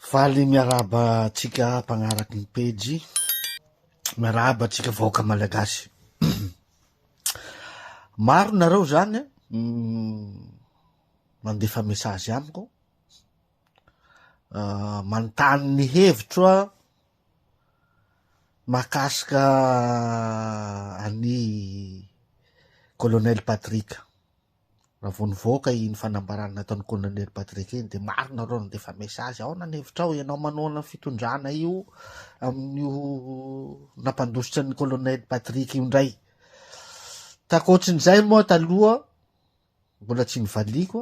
Faly miarahaba antsika mpagnaraky ny pejy, miarahaba antsika vahoaka malagasy. Maro nareo zany mandefa message amiko, manontany ny hevitro a mahakasika an'i Colonel Patrick. Raha vao nivoaka iny fanambarana nataon'ny Colonel Patrick iny dia maro nareo nandefa message, aona ny hevitrao, ianao manohana ny fitondrana io amin'io nampandositra ny Colonel Patrick io indray. Takoatrin'izay moa taloha mbola tsy nivaliako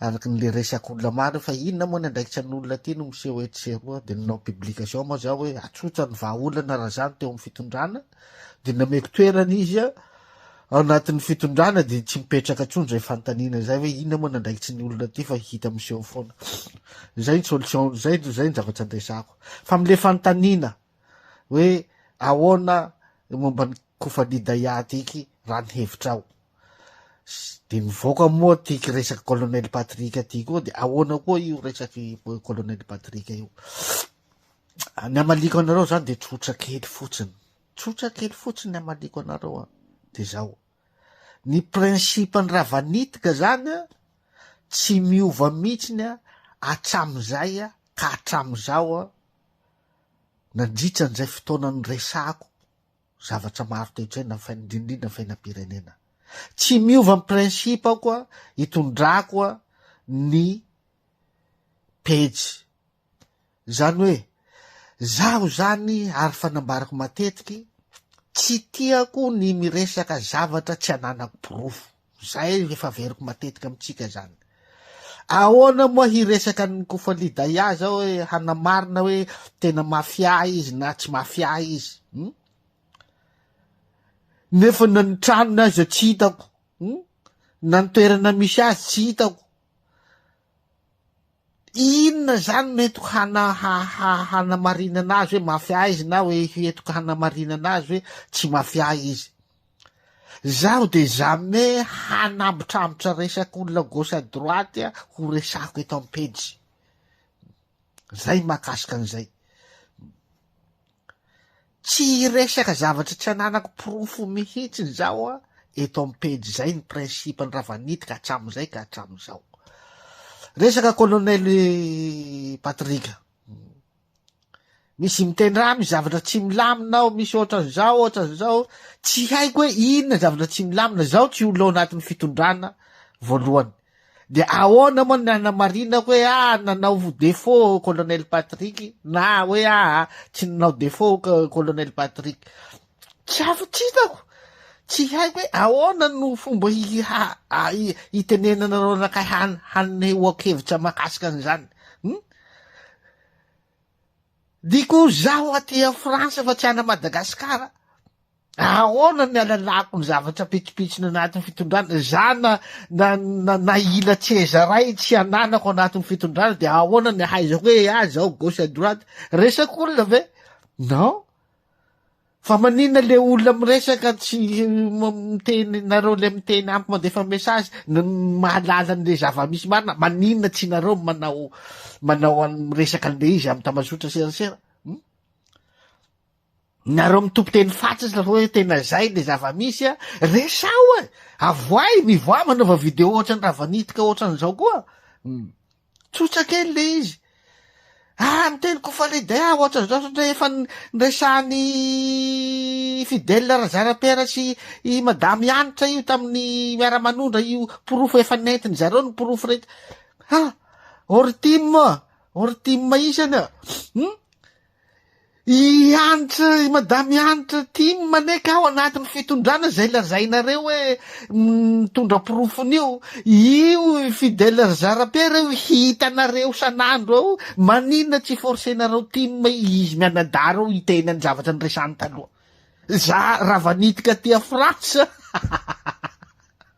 Araka ny le resaka olona maro hoe fa inona moa ny andraikitra ny olona aty no miseho etsy sy eroa dia nanao publication moa za hoe atsotsa ny vahaolana Razano teo amin'ny fitondrana dia nameko toerana izy ao anatin'ny fitondrana dia tsy mipetraka intsony izay fanontaniana izay hoe inona moa ny andraikitry ny olona aty fa hita miseho foana izay ny solution izay izay ny zavatra andresako fa amin'le fanontaniana hoe ahoana momba ny kofani daihat iky raha ny hevitrao de mivoaka moa ty resaka colonel patrick ty koa de ahoana koa io resaky colonel patrick io ny amaliko anareo zany de tsotra kely fotsiny tsotra kely fotsiny amaliko anareo a de zao ny principe ny ravanitika zany a tsy miova mihitsiny a atramizay a ka atramizao a Nandritra an'izay fotoana niresahako zavatra maro toe-tsaina fa indrindrindra fiainam-pirenena. Tsy miova ny principe-ko itondrako ny pejy. Izany hoe, izaho izany ary fa nambarako matetiky, tsy tiako ny miresaka zavatra tsy ananako porofo. Izay no efa averiko matetika amintsika izany. Ahoana moa hiresaka an'i Kofali Daya zao hoe hanamarina hoe tena mafia izy na tsy mafia izy. Hmm? Nefa na ny tranony aza tsy hitako. Hmm? Na ny toerana misy azy tsy hitako. Inona izany no hetoka hana hanamarinana azy hoe mafia izy na hoe hetoka hanamarinana azy hoe tsy mafia izy? Zaho de jamais hanambotrambotra resak'olona gauche à droite ho resahako eto am-pejy. Zay mahakasika an'izay. Tsy hiresaka zavatra tsy ananako porofo mihitsiny zaho a! eto am pejy zay ny principe ny ravanitika hatramizay ka hatramizao. Resaka colonel Patrick. Misy mitendrà misy zavatra tsy milamina ao misy ohatran'izao ohatran'izao tsy haiko hoe inona zavatra tsy milamina zaho tsy ho lo anatin'ny fitondrana voalohany. De ahoana moa ny hanamarina hoe ah nanao défaut colonel Patrick na hoe ah tsy nanao défaut colonel Patrick. Tsy afo tsy hitako. Tsy haiko hoe ahoana no fomba hitenenana anao anakay hanehoako hevitra mahakasika an'izany. Hmm? Dia koa zaho aty a France fa tsy ana Madagascar a! Ahoana ny alalako ny zavatra pitsopitsony anatin'ny fitondrana? Za na na na na ila tsezaray tsy ananako anatin'ny fitondrana dia ahoana ny ahaizako hoe ah zao gauche à droite? Resak'olona ve? Non. Fa maninona le olona miresaka tsy miteny nareo le miteny amiko mandefa message no mahalala an'le zava-misy marina maninona tsy nareo manao manao an miresaka an'le izy amin'ny tambazotra serasera hmm? nareo mitompo teny fatsisy la hoe tena zay le zava-misy a resaho e avoay mivoa manaova video ohatran'ny raha vanitika ohatran'izao koa hmm. Tsotra kely ilay izy. Ah, miteny koa fa ilay dia ohatr'izao satria efa niresahan'i Fidèle Razarapiera sy i Madame Hanitra io tamin'ny miara-manondra io porofo efa nentin zareo ny porofo rehetra. Ha, Ortim, Ortim isany. Hmm? I Hanitra, i Madame Hanitra, tia ny maneka ao anatin'ny fitondrana izay lazainareo hoe mitondra porofony io. Io i Fidèle ry Zara-Pierre io hitanareo san'andro ao, maninona tsy forcenareo tim izy mianadahy reo hiteny ny zavatra niresany taloha. Za rava nitika aty a France.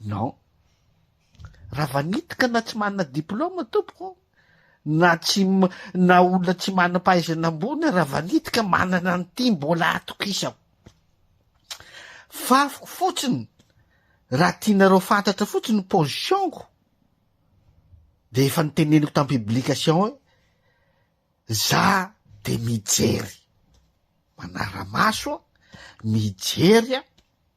Non. Raha vanitika na tsy manana diploma tompoko, na tsy na olona tsy manam-pahaizana ambony raha vanitika manana an'ity mbola atokisako. Fafiko fotsiny raha tianareo fantatra fotsiny position-ko dia efa niteneniko tam publication hoe za de mijery manara-maso mijery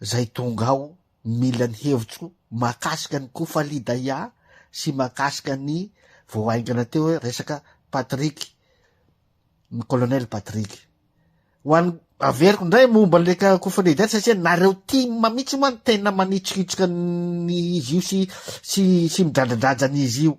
Zay tonga ao mila ny hevitro mahakasika ny Kofali Daya sy mahakasika ny vao haingana teo hoe resaka Patrick, ny Colonel Patrick. Ho an'ny averiko indray momba le Kofali Daya satria nareo tim mihitsy moa no tena manitsokitsoka ny izy io sy sy sy midradradraja an'izy io.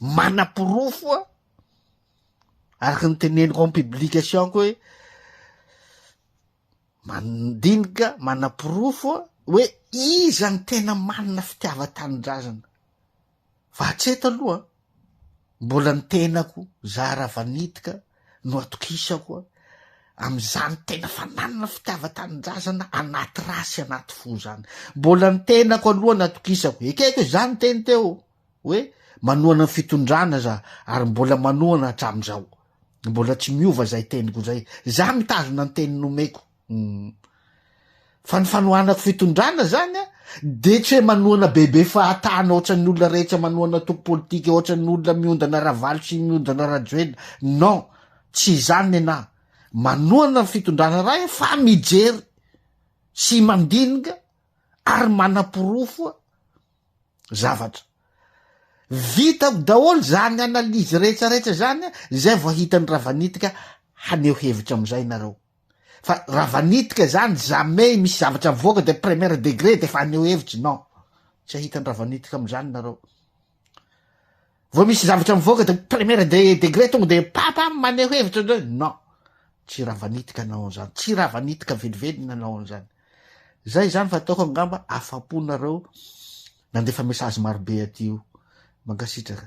manaporofo a araka ny teneniko am publication ko hoe mandinika manaporofo a hoe iza ny tena manina fitiavan-tanindrazana fa hatreto aloha mbola ny tenako za raha vanitika no atokisako a am'izany tena fananina fitiavan-tanindrazana anaty ra sy anaty fo zany mbola ny tenako aloha ny atokisako ekeko hoe za niteny teo hoe manohana ny fitondrana za ary mbola manohana hatramin'izao mbola tsy miova izay teniko izay za mitazona ny teny nomeko umm fa ny fanohanako fitondrana zany a de tsy hoe manohana bebe fahatana ohatran'ny olona rehetra manohana antoko politika ohatran'ny olona miondana ravalo sy miondana rajoelina non tsy izany nenahy manohana ny fitondrana ray fa mijery sy mandinika ary manaporofo a zavatra. Vitako daholo izany analyse rehetra rehetra izany izay vao hitan'i Ravanitika haneho hevitra amin'izay ianareo. Fa Ravanitika izany jamais misy zavatra mivoaka dia première degré dia efa haneho hevitra, non. Tsy hahita ny Ravanitika amin'izany ianareo. Vao misy zavatra mivoaka dia première degré tonga dia papa maneho hevitra, non. Tsy Ravanitika nanao an'izany, tsy Ravanitika velively nanao an'izany. Zay izany fa ataoko angamba afapo nareo nandefa message marobe aty io. Mankasitraka.